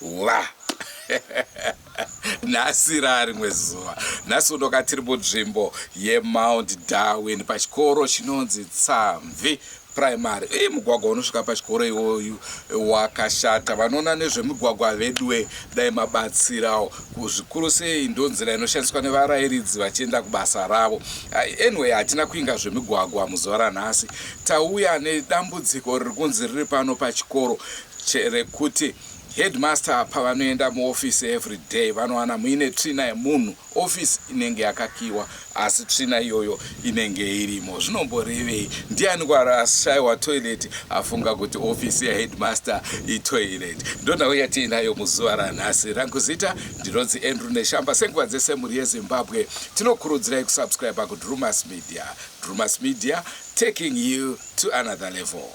Wa nhasi raa rimwe zuva nhasi unoka tiri munzvimbo yemount darwin pachikoro chinonzi tsamvi primary ii mugwagwa unosvika pachikoro iwoyu wakashata vanoona nezvemigwagwa veduwe dai mabatsirawo kuzvikuru sei ndonzira inoshandiswa nevarairidzi vachienda kubasa ravo anyway hatina kuinga zvemigwagwa muzuva ranhasi tauya nedambudziko riri kunzi riri pano pachikoro Cherekuti headmaster pavanoenda muoffice everyday vanowana muine tsvina yemunhu, office inenge yakakiwa asi tsvina iyoyo inenge irimo. Zvinomborevei? Ndianiko ashaiwa toilet afunga kuti office yeheadmaster itoilet? Ndonhau yatiinayo muzuva ranhasi. Rangu zita ndinonzi Andrew Neshamba. Senguva dzese mhuri yeZimbabwe, tinokurudzirai kusubscriber kuDrewmas Media. Drewmas Media, taking you to another level.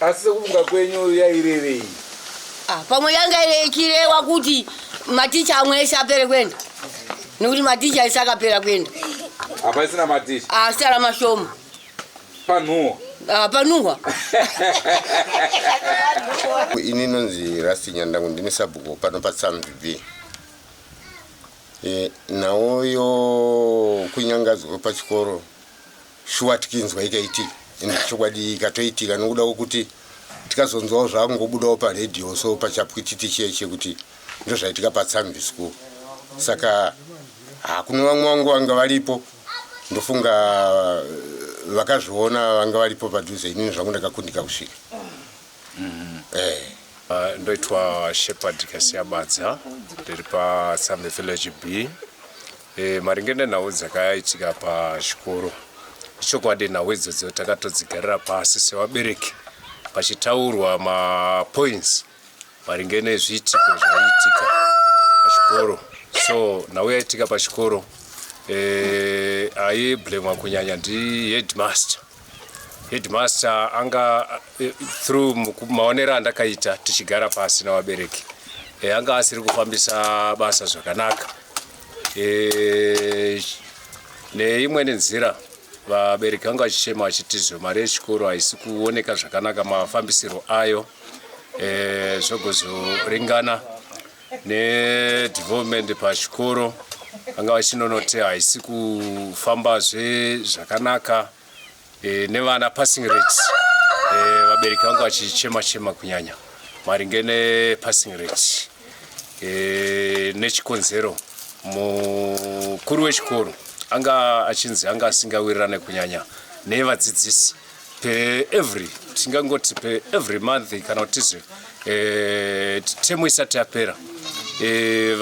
Asi sekufunga kwenyu yairevei? Ah, pamwe yanga ichirewa kuti maticha amwe ese apere kuenda nekuti maticha ese akapera kuenda hapaisina maticha asi ah, ara mashoma panhuwa ah, panhuwa ini nonzi rasti nyandangu ndine sabhuku pano patsamvb e, eh, nhau yo kunyangadzwa kwepachikoro shuwa tikinzwa ikaitika and chokwadi ikatoitika nokuda kwokuti tikazonzwawo zvakungobudawo paradio so pachapwititi chiye chekuti ndozvaitika patsamvi school saka hakune vamwe vangu vanga varipo ndofunga eh, vakazviona vanga varipo padhuze inini zvangu ndakakundika kusvika mm-hmm. eh. ah, ndoitwa shepherd kasiya badza ndiri patsamvi village b E, maringe nenhau dzakaitika pachikoro ichokwadi nhau idzodzo takatodzigarira pasi sevabereki pachitaurwa mapoints maringe nezviitiko zvaiitika pachikoro so nhau yaitika pachikoro eh, aiblemwa kunyanya ndiheadmaster Headmaster anga eh, through maonero andakaita tichigara pasi navabereki eh, anga asiri kufambisa basa zvakanaka eh, neimweni nzira vabereki vanga vachichema vachitizve mari yechikoro haisi kuoneka zvakanaka mafambisirwo ayo zvogozoringana nedevelopment pachikoro vanga vachinonoti haisi kufambazve zvakanaka e, nevana passing rates e, vabereki vanga vachichema chema kunyanya maringe nepassing rate e, nechikonzero mukuru wechikoro anga achinzi anga asingawirirane kunyanya nevadzidzisi per every tingangoti per every month kana kuti tizve eh, temu isati yapera eh,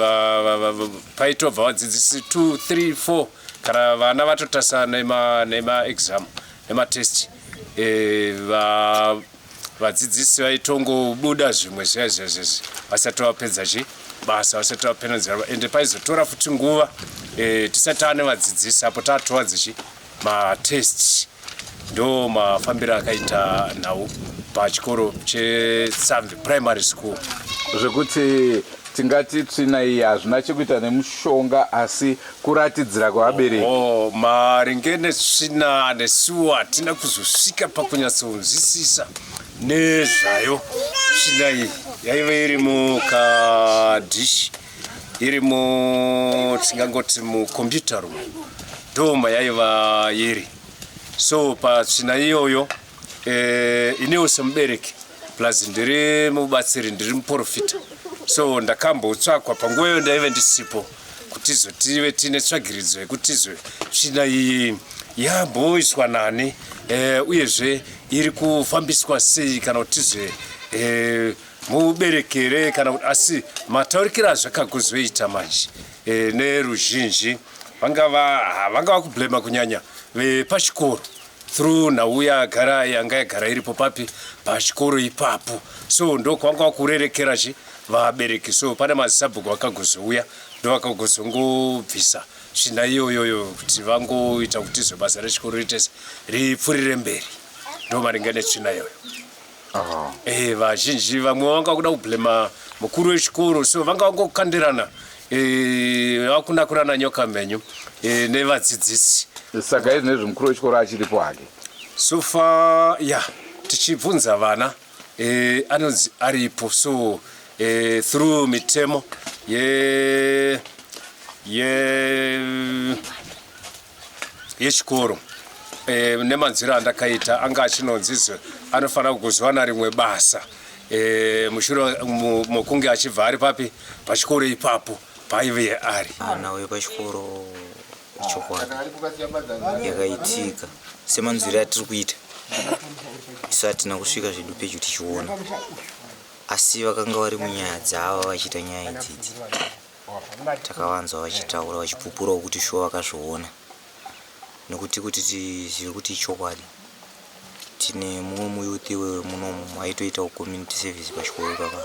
paitobva vadzidzisi 2 3 4 kana vana vatotasa nemaexam nematest eh, vadzidzisi vaitongobuda zvimwe zviya zviya zviya vasati vapedza chi basa vasati vapenedzera ende paizotora futi nguva tisati ane vadzidzisi apo tatova dzichi matests ndo mafambiro akaita nhau pachikoro chesamvi primary school zvekuti tingati tsvina iyi hazvina chekuita nemushonga asi kuratidzira kwevabereki oh, maringe netsvina nesuwo hatina kuzosvika pakunyatsonzwisisa nezvayo tsvina iyi yaive iri mukadhishi iri mu tingangoti mukombiyuta room ndoma yaiva iri so patsvina iyoyo e, eh, inewo semubereki plus ndiri mubatsiri ndiri muprofita so ndakambotsvakwa panguva iyo ndaive ndisipo kuti izotive tiine tsvagiridzo yekuti izwe tsvina iyi yamboiswa nani e, uyezve iri kufambiswa sei kana kuti zve e, mubereki here kana kuti asi mataurikiro azvakakuzoita manje e, neruzhinji vangava vangava kublema kunyanya vepachikoro through nhau yagara yanga yagara iripo papi pachikoro ipapo so ndokwanga wakurerekera chi vabereki so pane mazisabhuku vakagozouya ndovakagozongobvisa svina iyoyoyo kuti vangoita kuti zve basa rechikoro ritese ripfurire mberi ndomaringa netsvina iyoyo Ah. Eh, vazhinji vamwe vanga kuda kublema mukuru wechikoro so vanga vangokandirana eh, vakunakurana nyoka menyu eh, nevadzidzisi saka izvi nezvi mukuru wechikoro achiripo hake so far ya yeah, tichibvunza vana eh, anonzi aripo so eh, through mitemo ye ye yechikoro e, nemanzwiro andakaita anga achinonzi anofanira kuzowana rimwe basa e, mushure mokunge achibva ari papi pachikoro ipapo paive ari mwana uyo pachikoro chokwadi yakaitika semanzwiro atiri kuita isu hatina kusvika zvedu pedyo tichiona asi vakanga vari munyaya dzavo vachiita nyaya idzidzi takavanzwa vachitaura vachipupurawo kuti shuwa vakazviona nekuti kuti tizive kuti ichokwadi tine mumwe muyouth wemunomu aitoitawo community service pachikoro ipapa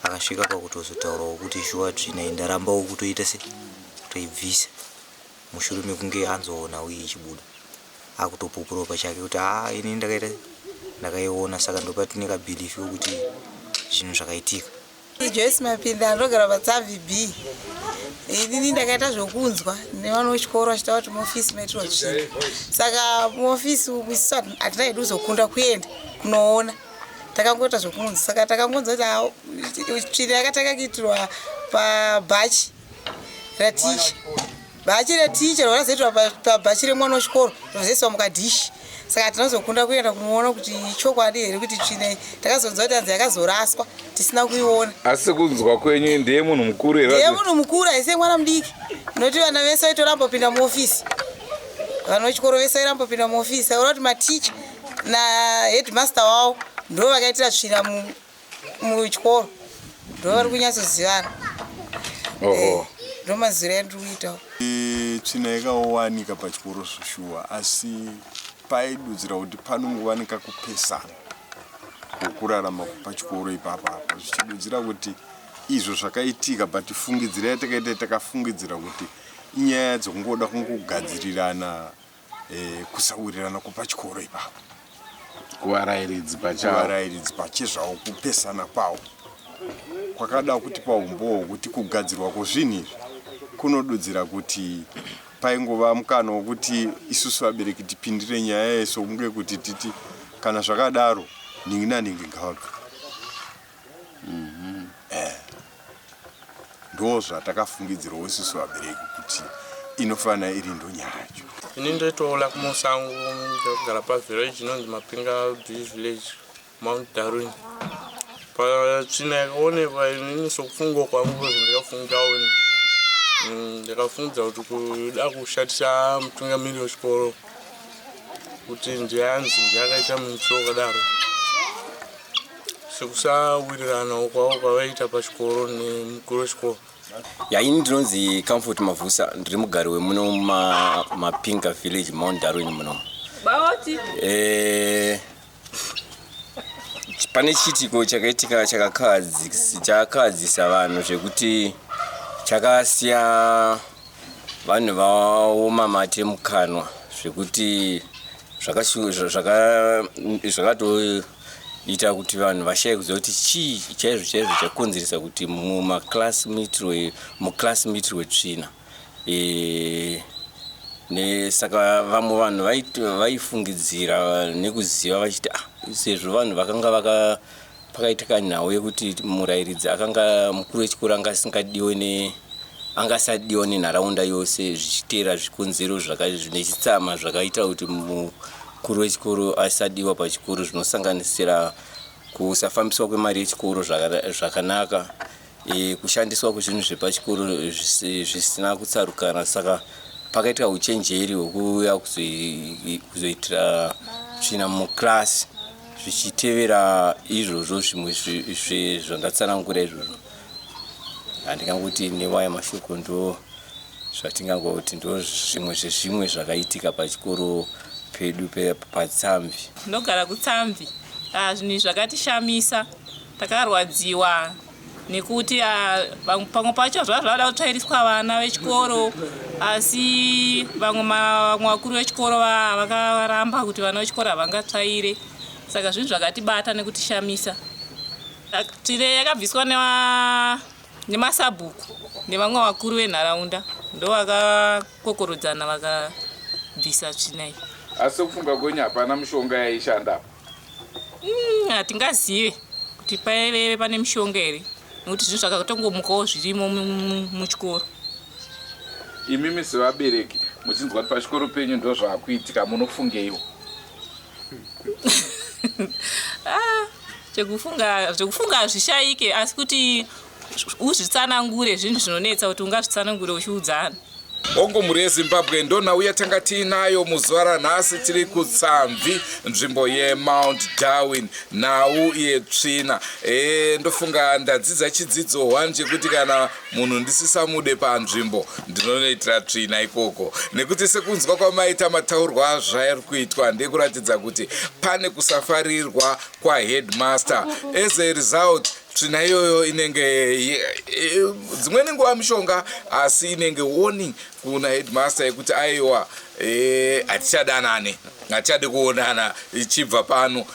akasvika pakutozotaurawo kuti shuwa tsvina iyi ndarambawo kutoita se kutoibvisa mushure mekunge anzoona uye ichibuda akutopupurawo pachake kuti haa ah, ini ndakaita ndakaiona saka ndopatine kabhilifi wekuti zvinhu zvakaitika Joyce Mapinda anogara paTsavi B. Inini ndakaita zvokunzwa nevana vechikoro vachitaura kuti muofisi maitirwa tsvina. Saka muofisi umu isu hatina hedu kuzokunda kuenda kunoona. Takangoita zvokunzwa. Saka takangonzwa kuti tsvina yakatanga kuitirwa pabhachi raticha. bhachi reticha rakazoitwa pabhachi remwana wechikoro rozoiswa mukadhishi saka tinozokunda kuenda kunoona kuti chokwadi here kuti tsvine takazonzwa kuti anzi yakazoraswa tisina kuiona asi kunzwa kwenyu ndeye munhu mukuru here ndeye munhu mukuru haise mwana mudiki noti vana vese vaitoramba kupinda muofisi vana vechikoro vese vairamba kupinda muofisi aona kuti maticha naheadmaster wavo ndo vakaitira tsvina muchikoro ndovari kunyatsozivana eh, ndomazira andiri kuitawo eh, tsvina yakawanika pachikoro zvoshuwa asi paidudzira kuti panongowanika kupesana kwokurarama pachikoro ipapa apa zvichidudzira kuti izvo zvakaitika but fungidzira yatakaita takafungidzira kuti inyaya dzongoda kungogadzirirana eh, kusawirirana kwepachikoro ipapo kuvarairidzi pachaavarairidzi pachezvavo kupesana kwavo kwakada kuti paumbowo kuti kugadzirwa kwozvinhu izvi kunodudzira kuti paingova mukana wokuti isusu vabereki tipindire nyaya yeso kunge kuti titi kana zvakadaro nhingi nanhingi ngavabve Mhm. Eh. Ndo zvatakafungidzirwa isusu vabereki kuti inofanira iri ndo nyaya yacho. Ini ndoitoona kumusango ndakugara pavillage inonzi Mapinga B village Mount Darwin. Patsvina yakaonekwa inini sokufunga kwangu kuti ndakafunga wena. Mm, Ndakafunga kuti kuda kushatisa mutungamiri wechikoro kuti ndiye anzi ndiye akaita muitiro wakadaro. sekusawiriranawo kwavo kwavaiita pachikoro nemukuru wechikoro ya ini ndinonzi comfort mavhusa ndiri mugari wemuno mapinga village mount darwin muno eh, pane chiitiko chakaitika chakakahadzisa vanhu zvekuti chakasiya vanhu vaoma mate mukanwa zvekuti zvakatoita ita kuti vanhu vashaye kuziva kuti chii chaizvo chaizvo chakonzeresa kuti mumaclass mitirwe muclass mitirwe tsvina e, nesaka vamwe vanhu vaifungidzira nekuziva vachiti ah, sezvo vanhu vakanga vaka pakaitika nhau yekuti murayiridzi akanga mukuru wechikoro anga asingadiwe ne anga asadiwa nenharaunda yose zvichiteera zvikonzero zvine chitsama zvakaita kuti Mukuru wechikoro aisadiwa pachikoro zvinosanganisira kusafambiswa kwemari yechikoro zvakanaka, e, kushandiswa kwezvinhu zvepachikoro zvisina kutsarukana. Saka pakaitwa uchenjeri hwekuuya kuzoitira tsvina mukirasi zvichitevera izvozvo zvimwe zvezvandatsanangura izvozvo. handingangoti newaya mashoko ndo zvatingangoti ndo zvimwe zvezvimwe zvakaitika pachikoro pedu patsamvi ndogara kutsamvi ah, zvinhu izvi zvakatishamisa takarwadziwa nekuti ah, pamwe pacho zvava zvavada kutsvairiswa vana vechikoro asi vamwe vamwe vakuru vechikoro vakaramba kuti vana vechikoro havangatsvaire saka zvinhu zvakatibata nekutishamisa Tire yakabviswa nemasabhuku nevamwe vakuru venharaunda ndovakakokorodzana vakabvisa tsvina iyi. Asi sokufunga kwenyu hapana mishonga yaishanda apa? Hmm, hatingazive kuti paive pane mishonga here nekuti zvinhu zvakatongomukawo zvirimo muchikoro. Imimi sevabereki muchinzwa kuti pachikoro penyu ndozvakuitika munofungeiwo? ah, chekufunga zvekufunga hazvishaike asi kuti uzvitsanangure zvinhu zvinonetsa kuti ungazvitsanangure uchiudzana hongu mhuri yezimbabwe ndonhauya tanga tiinayo muzuva ranhasi tiri kutsamvi nzvimbo yemount darwin nhau yetsvina e, ndofunga ndadzidza chidzidzo one chekuti kana Munhu ndisisamude panzvimbo ndinonoitira tsvina ikoko nekuti sekunzwa kwamaita mataurwa azvairi kuitwa ndekuratidza kuti pane kusafarirwa kwaheadmaster as a result tsvina iyoyo inenge dzimweni nguva mishonga asi inenge warning kuna headmaster yekuti aiwa eh, hatichadanane hatichade kuonana ichibva pano